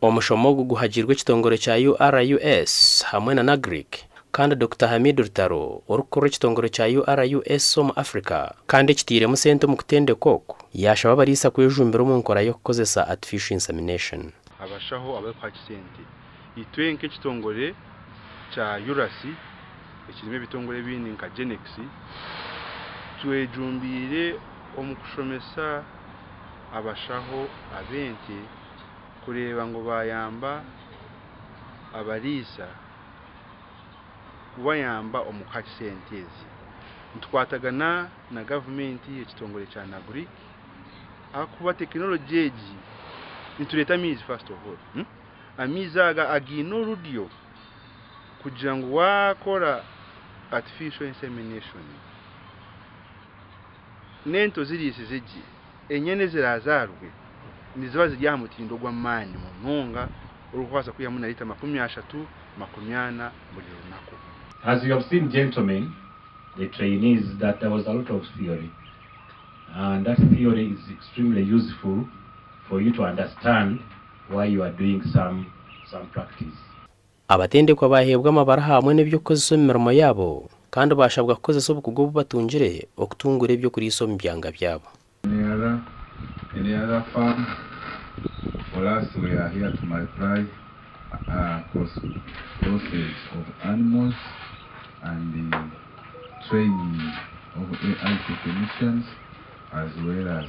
Omushomo ogu guhagiirwe ekitongore kya URUS hamwe na NAGRIC kandi Dokita Hamid Rutaro orikukurira ekitongore kya URUS omu Africa kandi ekitairemu sente omu kutendeka oku, yaashaba abariisa kwejumbira omu nkora y'okukozesa Artificial Insemination. Abashaho abarikuha kisente. Itwe nk'ekitongore kya URAC ekirimu ebitongore ebindi nka GENEX, twejumbiire omu kushomesa abashaho ab'ente kureeba ngu baayamba abariisa kubayamba omu kuha sente ezi. Nitukwatagana na gavumenti, ekitongore kya NAGRIC ahakuba tekinologye egi, nitureeta amaizi. Amaizi aga againe orudyo kugira ngu waakora artificial insemination, n'ento ziriisize gye, enyana eziraazaarwe niziba ziri aha mutindo gw'amaani munonga orikubaasa kwihamu na liita makumi ashatu, makumi ana buri runaku. As you have seen gentlemen, the trainees that there was a lot of theory and that theory is extremely useful for you to understand. why you are doing some some practice. Abatendekwa baaheebwa amabara hamwe n'eby'okukozesa omu mirimo yaabo, kandi baashabwa kukozesa obukugu obu batungire okutunguura eby'okuriisa omu byanga byabo. Any other any other farm for us we are here to multiply cross crossage of animals and training of AI technicians as well as.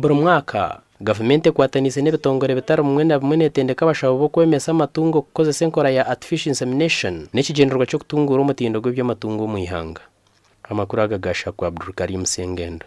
Buri mwaka, gavumenti ekwataniise n'ebitongore bitari bimwe na bimwe neetendeka abashaho b'okwemesa amatungo kukozesa enkora ya artificial insemination n'ekigyendererwa ky'okutunguura omutindo gw'eby'amatungo omu ihanga. Amakuru aga ga Shaku Abdulkarim Sengendo.